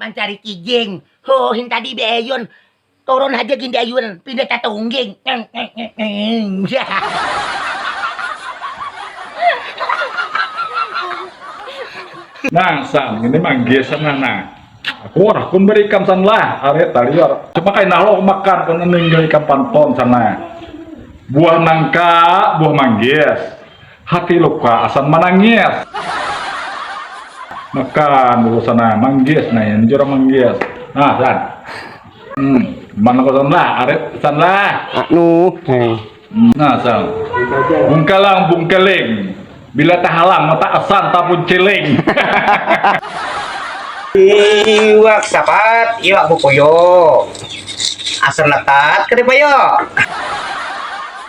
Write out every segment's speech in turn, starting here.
Mancari kijing, hoo hintadi di ayun, turun haja gin di ayun, pindah tatungging. Nah san, ini manggil san lah nah. Akur, kun beri ikan san lah, arit taliur. Cuma kainah lo makan, kun ninggil ikan panton san nah. Buah nangka, buah manggis. Hati luka asan manangis. Makan dulu sana manggis nah ini jurang manggis nah san hmm mana kau san lah arit san lah anu eh. nah san bungkalang bungkeling bila tahalang mata asan tapun ciling iwak sapat iwak bukuyo asan letat kedipayo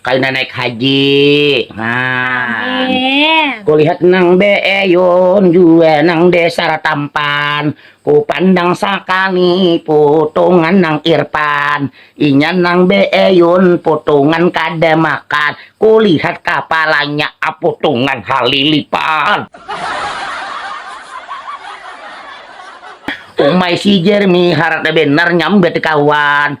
Kaina naik haji nah kulihat nang beeyun jua nang besar tampan kupandang sakali putungan nang irpan inya nang beeyun putungan kada makan kulihat kapalanya aputungan halilipan umai si jermi harata benar nyambat kawan.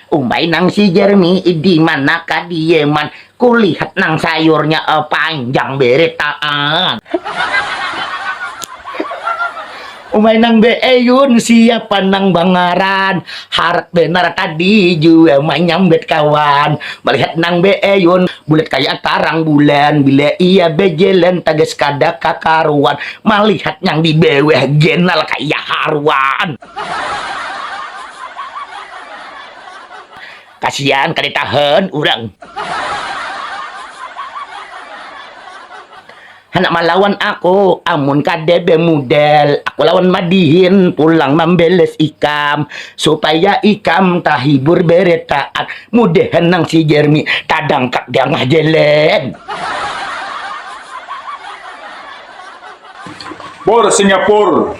Umbai nang si Jeremy ih dimana kadieman kulihat nang sayurnya eh panjang beretaan. Umbai nang beeyun siapa nang bangaran harat benar tadi jua manyambat kawan malihat nang beeyun bulat kaya tarang bulan bila ia bejalan tagas kada kakaruan malihat nyang dibawah genal kaya haruan. Kasian kada tahan urang. Handak malawan aku amun kada bemudal aku lawan madihin pulang mambeles ikam supaya ikam tahibur beretaan mudahan nang si jermi tadangkap dangah jalan. Pur singapur.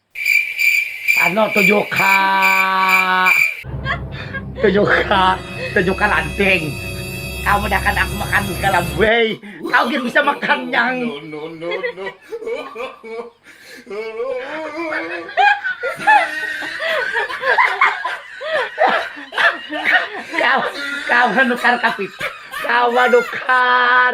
Ano tujuh ka tujuh ka tujuh ka lanting kau mudahkan aku makan segala buai kau gin bisa makan nyang kawa nukar kapital kawa nukar.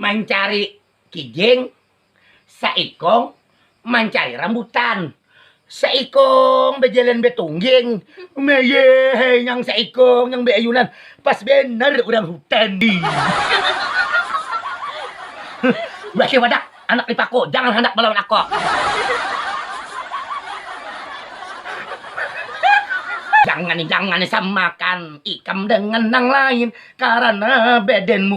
Mancari kijing saikung mancari rambutan saikung bajalan batungging mayee nyang saikung nyang baayunan pas banar urang hutan wahee wadah anak lipaku jangan handak balawan ako. Jangan jangan samakan ikam dengan nang lain karana badanmu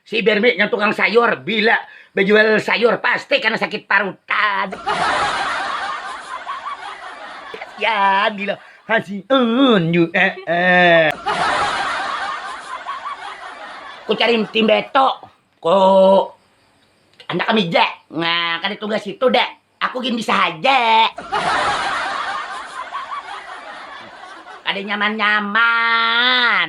Si Bermi nang tukang sayur bila bajual sayur pasti kana sakit parutan. Kasian gila kasian ju eh eh. Ku cari tim beto ku anda kamija nah kada tugas itu dah aku gin bisa haja. Kada nyaman nyaman.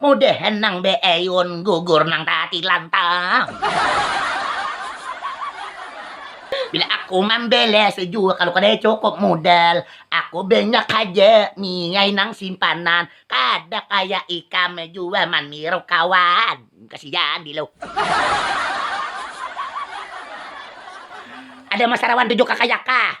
Mudahan nang beayun gugur nang taatilan tang. Bila aku mambalas jua kalu kada cukup mudal, aku banyak haja niai nang simpanan, kada kaya ikam jua maniru kawan. Kasian Dilu. Ada masarawan tujuh kakayakah.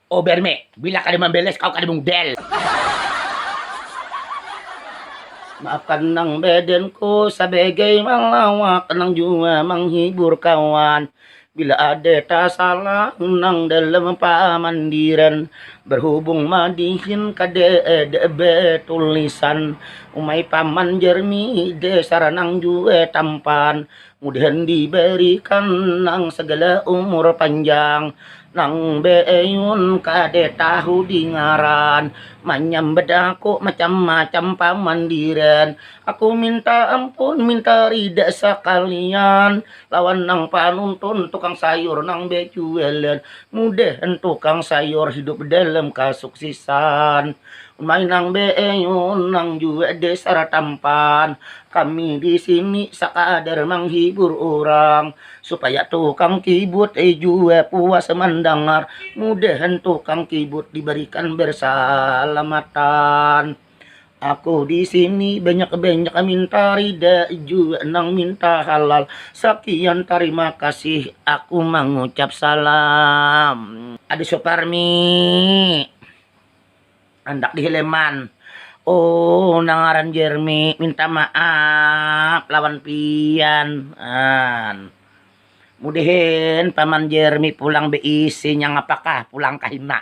Oh berme, bila kada mambeles kau kada mudel. Makan nang beden ku sabegai malawak nang jua manghibur kawan. Bila ada tasalah nang dalam pamandiran berhubung madihin kada ada betulisan. Umai paman jermi dasar nang jua tampan. Mudahan dibarikan nang sagala umur panjang nang beeyun kada tahu di ngaran manyambat aku macam-macam pamandiran aku minta ampun minta rida sakalian lawan nang panuntun tukang sayur nang bajualan mudahan tukang sayur hidup dalam kasuksisan umai nang beeyun nang jua dasar tampan Kami di sini sakadar manghibur urang supaya tukang kibut jua puas mandangar. Mudahan tukang kibut dibarikan barsalamatan. Aku di sini banyak-banyak minta rida jua nang minta halal. Sakian tarima kasih aku mangucap salam. Ada Suparmi. Handak dihileman. Oh nang ngaran Jeremy minta maaf lawan pian an. Mudahan paman Jeremy pulang beisi nya ngapakah pulang kahina.